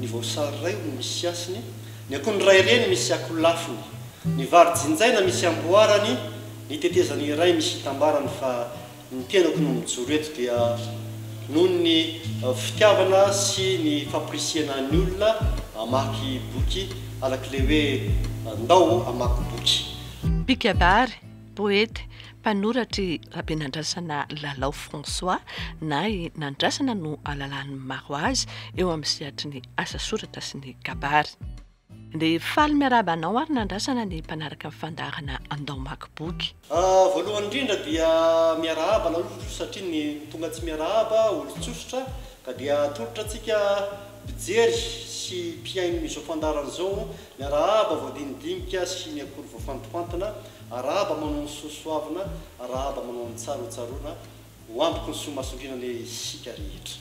Ny voasary iray hono misy hasiny, ny akondro iray reny misy akolafiny, ny vary jinjaina misy amboarany, ny tetezana iray misy itambarany fa ny tenako no mijoro eto dia noho ny fitiavana sy ny famporisihana ny olona hamaky boky arak'ilay hoe ndao hamaky boky. Pikadary, Poety, mpanoratra i Rabenandrasana Lalao François, na i Nandrasana no alalahan'ny maro azy eo amin'ny sehatry ny asa soratra sy ny kabary. Dia faly miarahaba anao ary Nandrasana ny mpanaraka ny fandaharana Andao Hamaky Boky. Voalohany indrindra dia miarahaba anareo tso-tsotra satria ny tonga tsy miarahaba olon-tsosotra ka dia atolotra antsika mpijery sy mpihaino izao fandaharana izao miarahaba voadinidinika sy ny akory voafantofantina Arahaba manao ny soa soavina, arahaba manao ny tsara ho tsaroana, ho amboky ny soa mahasolina anie isika rehetra.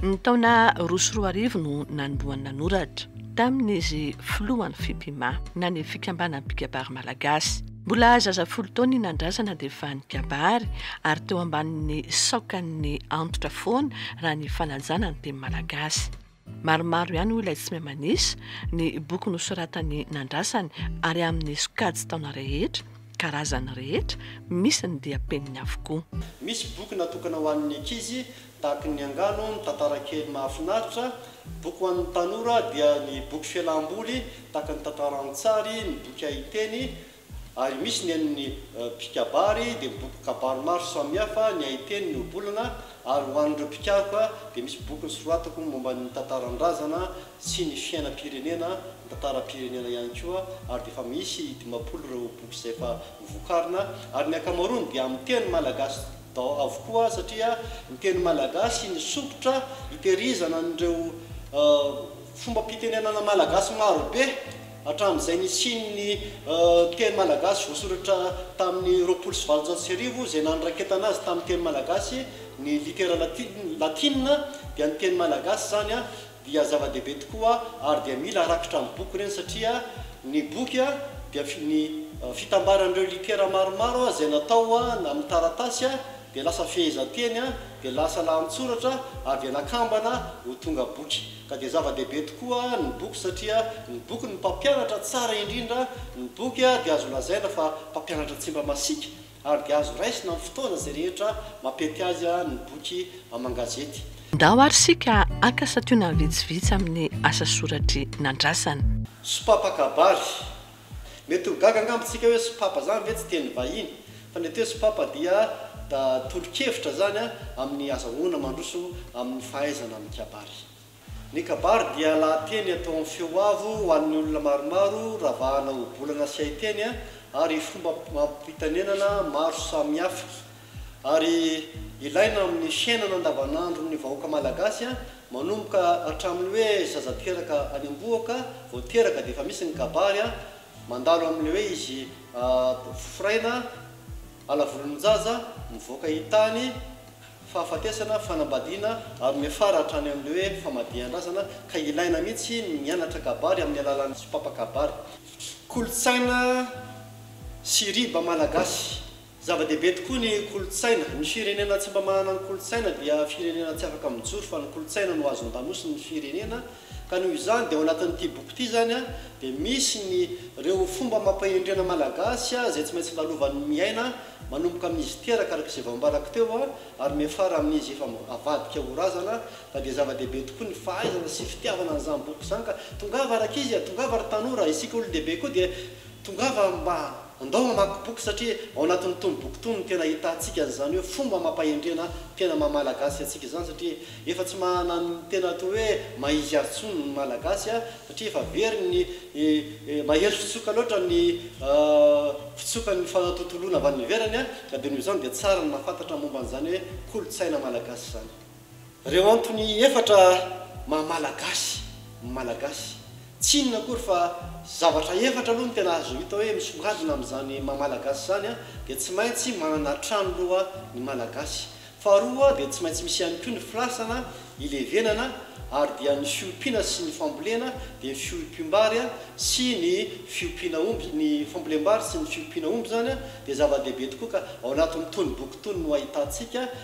Ny taona roa sy roa arivo no nanombohany nanoratra, tamin' izy filohan' ny Fipima, na ny Fikambanan'ny Mpikabary Malagasy. Mbola zaza folo taona i Nandrazana dia efa nikabary, ary teo ambanin'ny saokan'ny antitra foana raha ny fanajana ny teny malagasy. Maromaro ihany hoy ilay Tsimiamanys ny boky nosoratany nandrasany ary amin'ny sokajin-taona rehetra, karazany rehetra, misy ny diam-peniny avokoa. Misy boky natokana ho an'ny ankizy tahaka ny angano, ny tantara kely mahafinaritra, boky ho an'ny tanora dia ny boky fialam-boly tahaka ny tantara an-tsary, ny boky haiteny, ary misy ny an'ny mpikabary dia boky kabary maro samihafa ny haiteny ny ohabolana ary ho an'ireo mpikaroka dia misy boky nosoratako momba ny tantaran-drazana sy ny fiainam-pirenena ny tantaram-pirenena ihany koa ary dia efa misy dimampolo ireo boky izay efa vokarina ary ny ankamaroany dia amin'ny teny malagasy daholo avokoa satria ny teny malagasy nisompitra hitehirizana an'ireo fombam-pitenenana malagasy marobe Hatramin'izay nisian'ny teny malagasy voasoratra tamin'ny roapolo sy valonjato sy arivo izay nanoraketana azy tamin'ny teny malagasy ny litera latina dia ny teny malagasy izany dia zava-dehibe tokoa ary dia mila harakitra amin'ny boky ireny satria ny boky dia ny fitambaran'ireo litera maromaro izay natao amin'ny taratasy dia lasa fehezanteny dia lasa lahantsoratra ary dia nakambana ho tonga boky. Ka dia zava-dehibe tokoa ny boky satria ny boky no mpampianatra tsara indrindra, ny boky dia azo lazaina fa mpampianatra tsy mba masiaka ary dia azo raisina amin'ny fotoana izay rehetra mampety azy ny boky aman-gazety. Ndao ary isika haka santionany vitsivitsy amin'ny asa soratr'i Nandrasana. Sopapa kabary, Mety ho gaga angamba tsika hoe sopapa zany ve tsy teny vahiny? Fa ny atao hoe sopapa dia da tolo-kevitra zany a amin'ny azahoana mandroso amin'ny fahaizana amin'ny kabary. Ny kabary dia lahateny atao amin'ny feo avo ho an'ny olona maromaro ravahana ohabolana sy haiteny ary fomba ampitanenana maro samihafa. Ary ilaina amin'ny fiainana andavanandron'ny vahoaka malagasy manomboka hatramin'ny hoe zazatoeraka any am-bohoka vao teraka dia efa misy ny kabary mandalo amin'ilay hoe izy foraina ala volon-jaza mivoaka hitany fahafatesana fanambadiana ary miafara hatrany amin'ilay hoe famadihan-drazana ka ilaina mihitsy ny mianatra kabary amin'ny alalan'ny sompapa-kabary kolontsaina sy riba malagasy. Zava-dehibe tokoa ny kolontsaina. Ny firenena tsy mba manana ny kolontsaina dia firenena tsy afaka mijoro fa ny kolontsaina no azo andamosin' ny firenena ka noho izany dia ao anatin' ity boky ity izany dia misy ny reo fomba amam-pahendrena malagasy izay tsy maintsy lalovan' ny miaina manomboka amin' izy teraka araka izay vao ambarako teo ary miafara amin' izy efa avadika ho razana ka dia zava-dehibe tokoa ny fahaizana sy fitiavana an' izany boky izany ka tongava rakizy a, tongava ry tanora, isika olon-dehibe koa dia tongava mba Andao hamaky boky satria ao anatin'ny tony boky tony no tena ahitantsika an'izany hoe fomba amam-pahendrena tena maha Malagasy antsika izany satria efa tsy manana ny tena atao hoe maha izy azy intsony ny Malagasy satria efa very ny mahery fitsoka loatra ny fitsokan'ny fanatontoloana avy any ivelany ka dia noho izany dia tsara ny mahafantatra momba an'izany hoe kolontsaina Malagasy izany. Ireo antony efatra maha Malagasy ny Malagasy. Tsy inona akory fa zavatra efatra aloha no tena azo hita hoe misongadina amin'izany maha Malagasy izany dia tsy maintsy manana trano aloha ny Malagasy. Faharoa dia tsy maintsy misy ihany koa ny filasana, hilevenana ary dia ny fiompiana sy ny fambolena dia fiompiam-bary sy ny fiompiana omby, ny fambolem-bary sy ny fiompiana omby izany dia zava-dehibe tokoa ka ao anatin'itony boky itony no ahitantsika.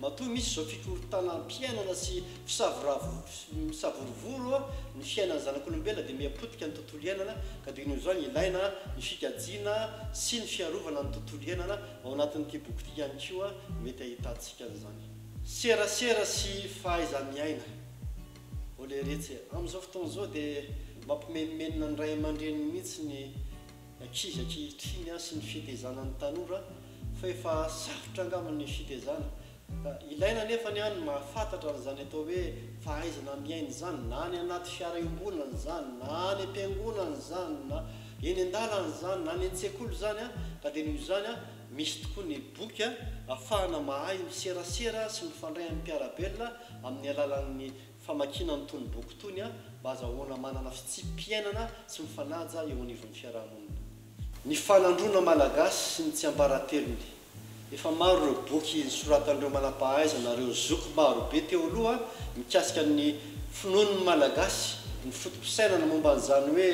Matoa misy izao fikorontanam-piainana sy fisavorovoro ny fiainan'ny zanak'olombelona dia miha potika ny tontolo iainana ka dia noho izany ilaina ny fikajiana sy ny fiarovana ny tontolo iainana, ao anatin'ity boky ity ihany koa mety ahitantsika an'izany. Serasera sy fahaiza-miaina. Oleretse. Amin'izao fotoana izao dia mampimenomenona ny ray aman-dreniny mihitsy ny. ny ankizy ankehitriny sy ny fitezanan'ny tanora fa efa sarotra angamba ny fitezana ka ilaina anefa ny an mahafantatra an'izany atao hoe fahaizana miaina izany na any anaty fiara iombonana izany na any am-piangonana izany na eny an-dalana izany na any an-tsekoly izany an ka dia noho izany an misy tokoa ny boky an afahana mahay miserasera sy mifandray amin'ny mpiara-belona amin'ny alalan'ny famakiana ny tony boky tony a mba azahoana manana fitsipi-piainana sy mifanaja eo anivon'ny fiaraha-monina. Ny fanandroana malagasy sy ny tsiambaratelony. Efa maro ireo boky nosoratan'ireo manam-pahaizana ary ireo zoky maro be teo aloha mikasika ny finoan'ny malagasy, ny foto-pisainana momba an'izany hoe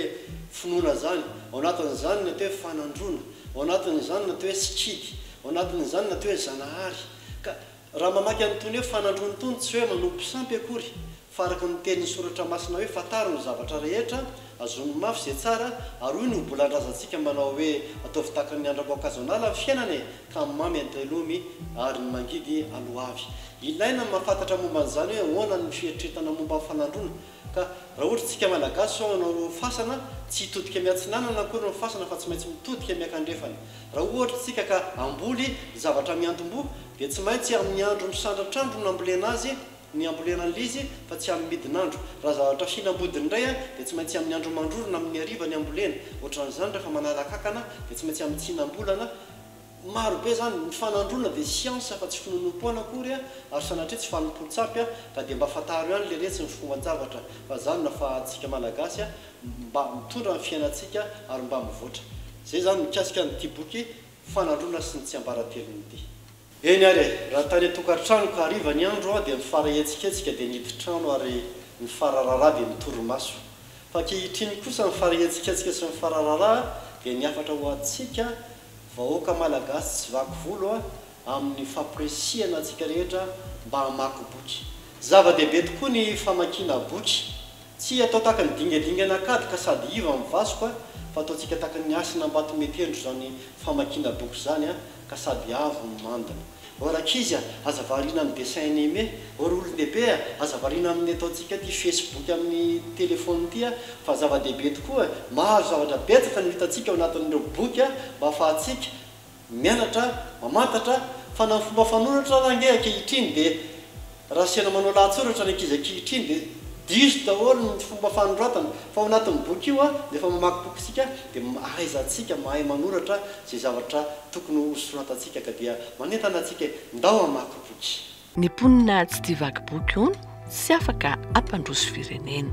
finoana izany, ao anatin'izany ny atao hoe fanandroana, ao anatin'izany ny atao hoe sikidy, ao anatin'izany ny atao hoe zanahary ka Raha mamaky an'itony hoe fanandroany itony, tsy hoe manompo sampy akory, fa araka ny tenin'ny Soratra Masina hoe fantaro ny zavatra rehetra, azony mafy izay tsara, ary hoy ny obolan-drazantsika manao hoe ataovy tahaka ny andram-boankazon'ala ny fiainana e, ka ny mamy antelomy, ary ny mangidy aloavy. Ilaina ny mahafantatra momba an'izany hoe ahoana ny fieritreretana momba ny fanandroana, Ka raha ohatra tsika malagasy zao manao fasana tsy hitodika miatsinanana akory ny fasana fa tsy maintsy mitodika miakandrefana. Raha ohatra tsika ka hamboly zavatra miantomboha dia tsy maintsy amin'ny andro misandratr'andro no ambolena azy ny ambolena an'ilay izy fa tsy amin'ny midin'andro. Raha zavatra hinam-bodiny indray dia tsy maintsy amin'ny andro mandrorona amin'ny hariva ny ambolena. Ohatran'izany rehefa manala kankana dia tsy maintsy amin'ny tsinam-bolana Maro be zany, ny fanandroana dia siansa fa tsy finonoam-poana akory ary sanatria tsy fanompoan-tsampy ka dia mba fantaro ihany le retsy ny fomban-javatra fa zany no afahantsika Malagasy mba mitondra ny fiainantsika ary mba mivoatra. Zay zany mikasika an'ity boky fanandroana sy ny tsiambaratelony ity. Eny ary e! Raha tany an-tokantrano ka hariva ny andro dia ny fara hetsiketsika dia ny hidin-trano ary ny fara raharaha dia ny torimaso. Fa ankehitriny kosa ny fara hetsiketsika sy ny fara raharaha dia ny hafatra ho antsika, Vahoaka Malagasy tsy vaky volo a amin'ny fampirisihana antsika rehetra mba hamaky boky. Zava-dehibe tokoa ny famakiana boky. Tsy atao tahaka ny dingadingana kady ka sady iva amin'ny vasoka fa ataontsika tahaka ny hasina ambato mietendro izany famakiana boky izany a ka sady avo ny mandina. O rankizy a, aza variana amin'ny dessin anime. O ry olon-dehibe a, aza variana amin'ny ataontsika ity Facebook amin'ny telefaonina ity a, fa zava-dehibe tokoa, maro zavatra betsaka no hitantsika ao anatin'ireo boky a, mba hahafahantsika mianatra, mamantatra, fa na ny fomba fanoratra ary ange ankehitriny dia Raha asiana manao lahatsoratra ny ankizy ankehitriny dia diso daholo ny fomba fanoratana fa ao anatin'ny boky io dia efa mamaky boky isika dia ahaizantsika mahay manoratra izay zavatra tokony ho soratantsika ka dia manentana antsika hoe ndao hamaky boky. Ny mponina tsy tia vaky boky hono tsy afaka hampandroso firenena.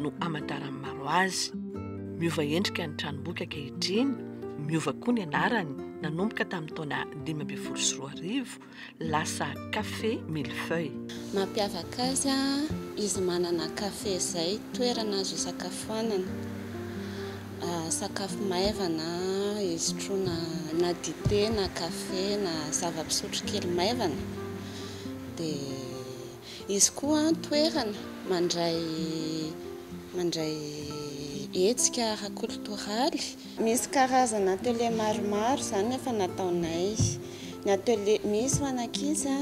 no amantaran'ny maro azy. Miova endrika ny tranomboky ankehitriny, miova koa ny anarany nanomboka tamin'ny taona dimy ambin'ny folo sy roa arivo, lasa Café Millefeuille. Mampiavaka azy izy manana café izay toerana azo isakafoanana, sakafo maivana isotroana na dite na café na zava-pisotro kely maivana dia. Izy koa toerana mandray mandray hetsika ara-kolotoraly. Misy karazana atelier maromaro izany no efa nataonay. Ny atelier, misy ho an'ankizy,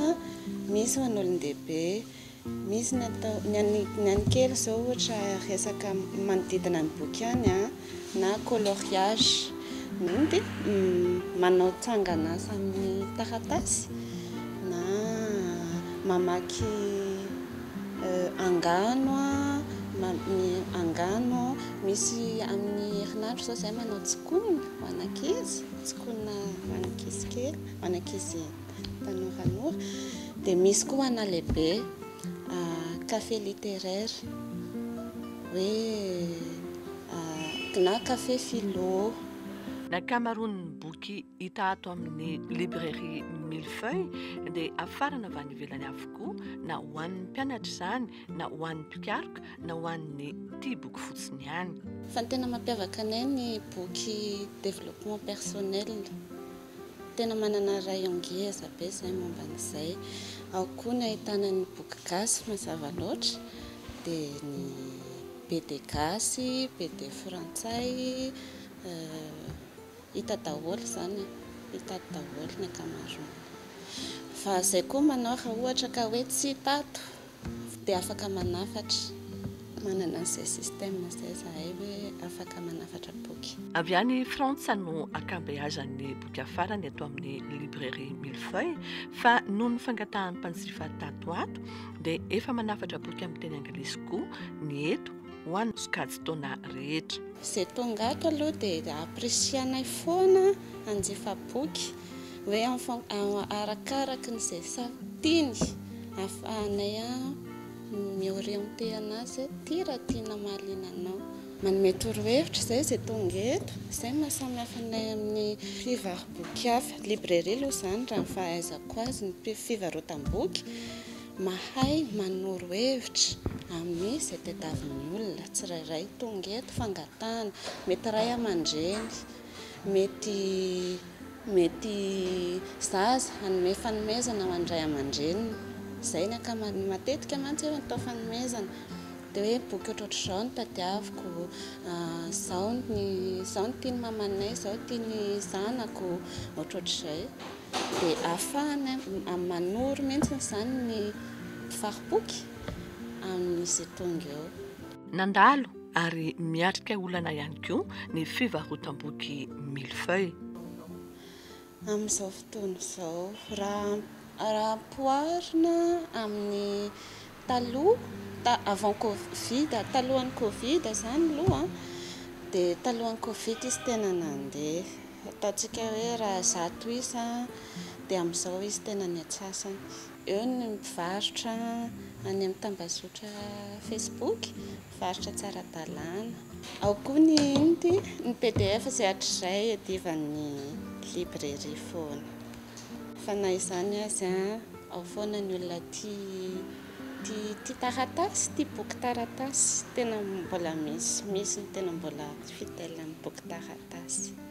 misy ho an'olon-dehibe. Misy ny atao, ny an'ny kely izao ohatra resaka manodidina ny boky ihany. na coloriage na dia manao tsanganasa amin'ny taratasy na mamaky angano angano misy amin'ny herinandro izao izahay manao tsikonina ho an'ankizy tsikonina ho an'ankizy kely ho an'ankizy tanoranora dia misy koa ho ana lehibe Café littéraire hoe na café philo. Ny ankamaroan'ny boky hita ato amin'ny librairie mille feuilles dia afarana avy any ivelany avokoa, na ho an'ny mpianatra izany, na ho an'ny mpikaroka, na ho an'ny tia boky fotsiny ihany. Fa ny tena mampiavaka anay ny boky développement personnel. Tena manana rayon ngeza be zay momba an'izay. Ao koa ny ahitana ny boky gasy mazava loatra, dia ny BD gasy, BD frantsay, hita daholo izany e, hita ato daholo ny ankamaroany. Fa izay koa manao raha ohatra ka hoe tsy tato Dia afaka manafatra, manana an'izay système izay zahay hoe afaka manafatra boky. Avy any Frantsa no ankabeazan'ny boky hafarany eto amin'ny Librairie Millefeuille fa noho ny fangatahan'ny mpanjifa tato ato dia efa manafatra boky amin'ny teny anglisy koa ny eto ho an'ny sokajin-taona rehetra. Izay tonga ato aloha dia apprecier-nay foana hanjifa boky hoe arakaraky ny izay tiany ahafahanay mi-orienter anazy hoe ty raha tiana mahaliana anao. Manome torohevitra izay izay tonga eto, izay no maha samy hafa anay amin'ny mpivaro-boky hafa. Librairie aloha izany raha ny fahaizako azy, ny fivarotam-boky mahay manoro hevitra amin'izay tadiavin'ny olona tsirairay tonga eto, fangatahana, mety ray aman-dreny. Mety mety zaza hanome fanomezana ho an'ny ray aman-dreniny. Izay ny ankamaroan'ny, matetika mantsy eo atao fanomezana. Dia hoe boky ohatrohatr'izao no tadiaviko, izao ny izao no tian'ny mamanay, izao no tian'ny zanako, ohatrohatr'izay. Dia ahafahana manoro mihitsy izany ny fari-poky amin'izy tonga eo. Nandalo ary miatrika olana ihany koa ny fivarotam-boky mille feuilles. Amin'izao fotoana izao, raha raha ampihoarina amin'ny taloha, ta- avant covid, talohan'ny covid izany aloha an, dia talohan'ny covid izy tena nandeha. Ataontsika hoe raha zato isa dia amin'izao izy tena niantsasany. Eo ny mivarotra any amin'ny tambazotra Facebook, mivarotra tsy ara-dalàna. Ao koa ny inona ity? Ny pdf izay hatrizay iadivan'ny librairie foana. Fa na izany aza, ao foana ny olona tia tia taratasy, tia boky taratasy. Tena mbola misy, misy ny tena mbola fidèle amin'ny boky taratasy.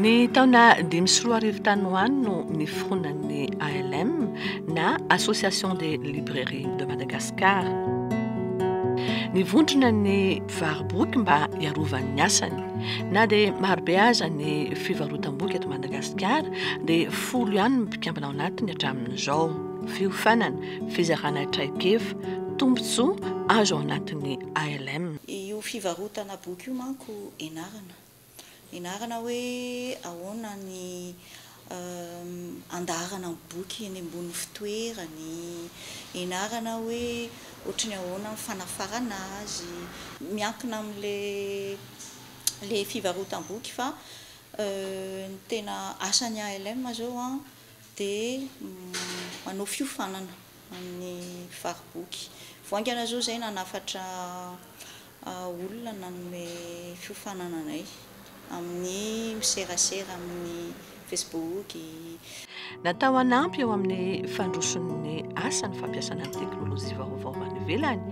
Ny taona dimy sy roa arivo tany ho any no niforonan'ny ALM na Association des Librairies de Madagascar. Nivondrona ny mpivaro-boky mba hiarovan'ny asany. Na dia marobe aza ny fivarotam-boky eto Madagasikara dia folo ihany ny mpikambana ao anatiny hatramin'izao. Fiofanana, fizarana traikefa, tombontsoa azo ao anatin'ny ALM. Io fivarotana boky io manko enarana. Enarana hoe ahoana ny andaharana ny boky eny ambony fitoerany, enarana hoe ohatry ny ahoana ny fanafarana azy, miankina amin'ilay fivarotam-boky fa ny tena asan'ny ALM zao dia manao fiofanana. amin'ny fariboky voaingana izao izay nanafatra olona nanome fiofanana anay amin'ny miserasera amin'ny fesbooky. Natao hanampy eo amin'ny fandroson'ny asa ny fampiasana ny teknolojia vaovao any ivelany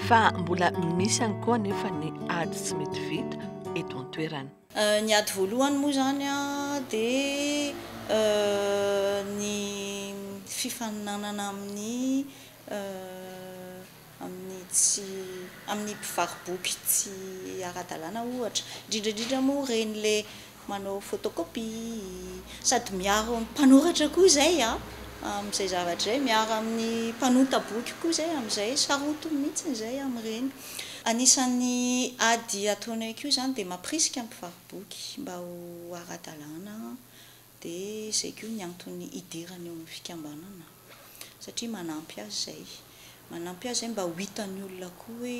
fa mbola misy ihany koa anefa ny ady tsy mety vita eto an-toerana. Ny ady voalohany moa izany dia ny fifaninanana amin'ny amin'ny tsy amin'ny mpivaro-boky tsy ara-dalàna ohatra, indrindra indrindra moa ireny ilay manao photocopie, sady miaro amin'ny mpanoratra koa izay amin'izay zavatra izay, miaro amin'ny mpanonta boky koa izay amin'izay, sarotiny mihitsy izay amin'ireny. Anisan'ny ady ataonay koa izany dia mampirisika ny mpivaro-boky mba ho ara-dalàna dia izay koa ny antony hidirany eo amin'ny fikambanana satria manampy azy izay, manampy azy izay mba ho hitan'ny olona koa hoe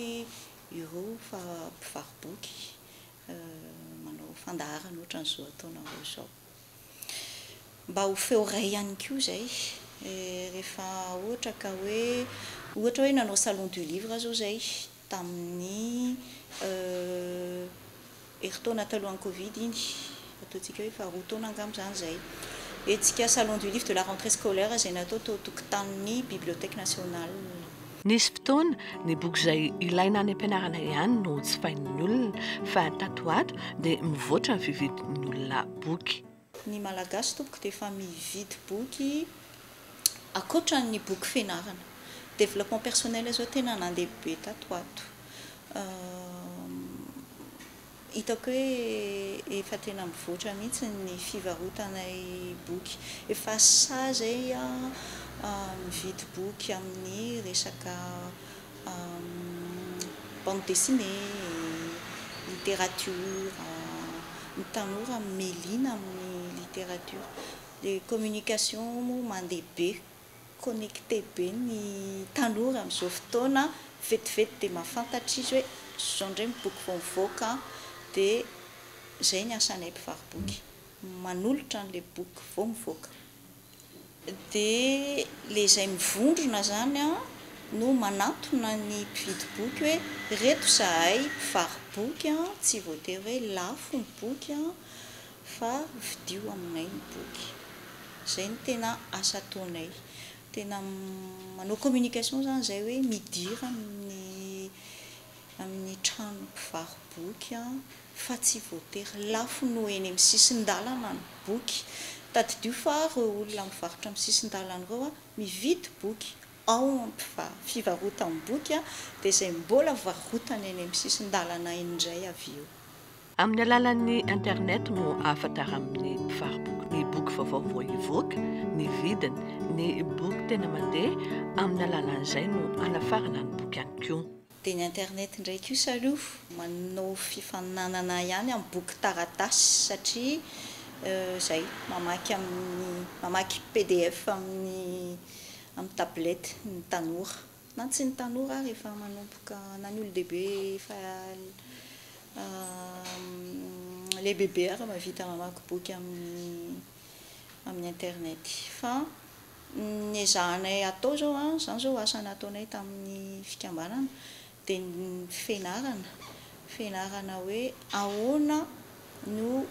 ireo fa mpivaro-boky manao fandaharana ohatran'izao ataonareo izao. Mba ho feo iray ihany koa izay rehefa ohatra ka hoe, ohatra hoe nanao salon du livre aho izao izay tamin'ny herintaona talohan'ny covid iny, ataontsika hoe faharoa taona angamba izany izay. Hetsika salon du livre de la rentrée scolaire izay natao tao tokotanin'ny Bibliothèque nationale. Nisy fotoana, ny boky izay ilaina any am-pianarana ihany no jifain'ny olona, fa tato ho ato dia mivoatra ny fividin'ny olona boky. Ny Malagasy tompoko dia efa mividy boky ankoatra ny boky fianarana. Développement personnel izao tena nandeha be tato ho ato. Hitako hoe efa tena mivoatra mihitsy ny fivarotanay boky. Efa sahy izay aho mividy boky amin'ny resaka bande dessinée, littérature. Ny tanora miha liana amin'ny littérature. Ilay communication moa mandeha be. Connecté be ny tanora amin'izao fotoana, vetivety dia mahafantatra izy hoe izao indray ny boky vao mivoaka an, dia izay ny asanay mpivaro-boky, manolotra an'ilay boky vao mivoaka. Dia ilay izay mivondrona izany an, no manantona ny mpividy boky hoe ireto izahay mpivaro-boky an, tsy voatery hoe lafo ny boky an, fa vidio aminay ny boky. Zay no tena asa ataonay. Tena manao communication zany zay hoe midira amin'ny amin'ny trano mpivaro-boky fa tsy voatery lafo no eny amin'ny sisin-dalana ny boky. Tadidio fa reo olona mivarotra amin'ny sisin-dalana reo mividy boky ao amin'ny fivarotam-boky dia zay mbola varotana eny amin'ny sisin-dalana indray avy eo. Amin'ny alalan'ny internet no ahafantaran'ny mpivaro-boky ny boky vaovao vao hivoaka, ny vidiny, ny boky tena mandeha, amin'ny alalan'izay no anafarana ny boky ihany koa. Dia ny internet indray koa sa aleo manao fifaninanana ihany amin'ny boky taratasy satria izay, mamaky amin'ny, mamaky pdf amin'ny tablette ny tanora. Na tsy ny tanora ary efa manomboka, na ny olon-dehibe efa lehibebe ary mahavita mamaky boky amin'ny internet. Fa ny ezahanay atao izao, izany izao asa nataonay tamin'ny fikambanana, dia ny fianarana, fianarana hoe ahoana no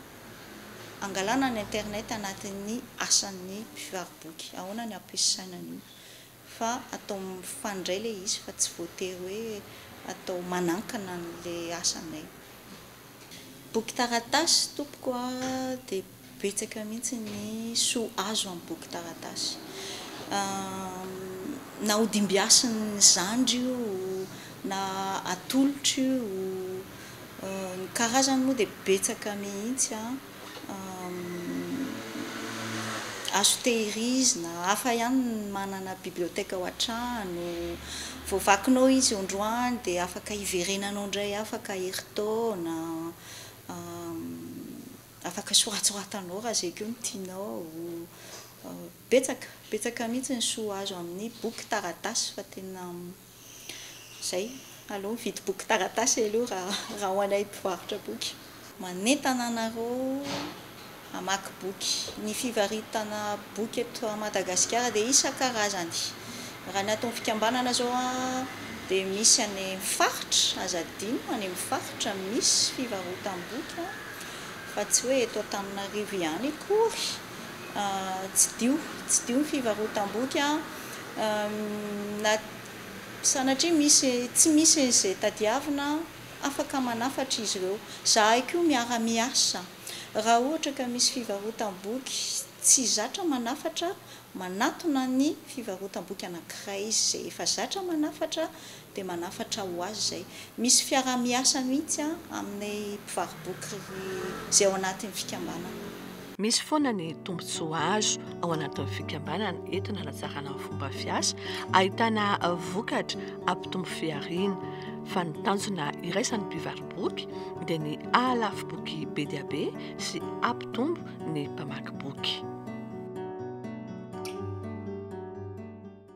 angalana ny internet anatin'ny asan'ny mpivaro-boky, ahoana ny ampiasaina an'io. fa atao mifandray ilay izy fa tsy voatery hoe atao manankana an'ilay asanay. Boky taratasy tompoko a, dia betsaka mihitsy ny soa azo amin'ny boky taratasy. Na hodimbiasin'ny zandry io, na atolotro io, ny karazany moa dia betsaka mihitsy an. Azo tehirizina, hafa ihany ny manana biblioteka ao an-trano, vao vakinao izy androany dia afaka hiverenanao indray afaka herintaona, afaka soratsoratanao raha izay koa no tianao, betsaka, betsaka mihintsy ny soa azo amin'ny boky taratasy fa tena. Zay, aleo mividy boky taratasy aleo raha ho anay mpivarotra boky. Manentana anareo hamaky boky. Ny fivaritana boky eto Madagasikara dia isan-karazany. Raha ny ato amin'ny fikambanana izao dia misy any amin'ny faritra, aza adino, any amin'ny faritra misy fivarotam-boky fa tsy hoe eto Antananarivo ihany akory. Tsidiho, tsidiho ny fivarotam-boky an! Na sanatria misy, tsy misy izay tadiavina an, afaka manafatra izy ireo. Izahay koa miara-miasa, raha ohatra ka misy fivarotam-boky tsy zatra manafatra, manatona ny fivarotam-boky anankiray izay efa zatra manafatra dia manafatra ho azy izay. Misy fiaraha-miasa mihitsy amin'ny mpivaro-boky izay ao anatin'ny fikambanana. Misy foana ny tombontsoa azo ao anatin'ny fikambanana entina hanatsarana ny fomba fiasa, ahitana vokatra hampitombo fihariana. Fa ny tanjona iraisan'ny mpivaro-boky dia ny hahalafo boky be dia be sy hampitombo ny mpamaky boky.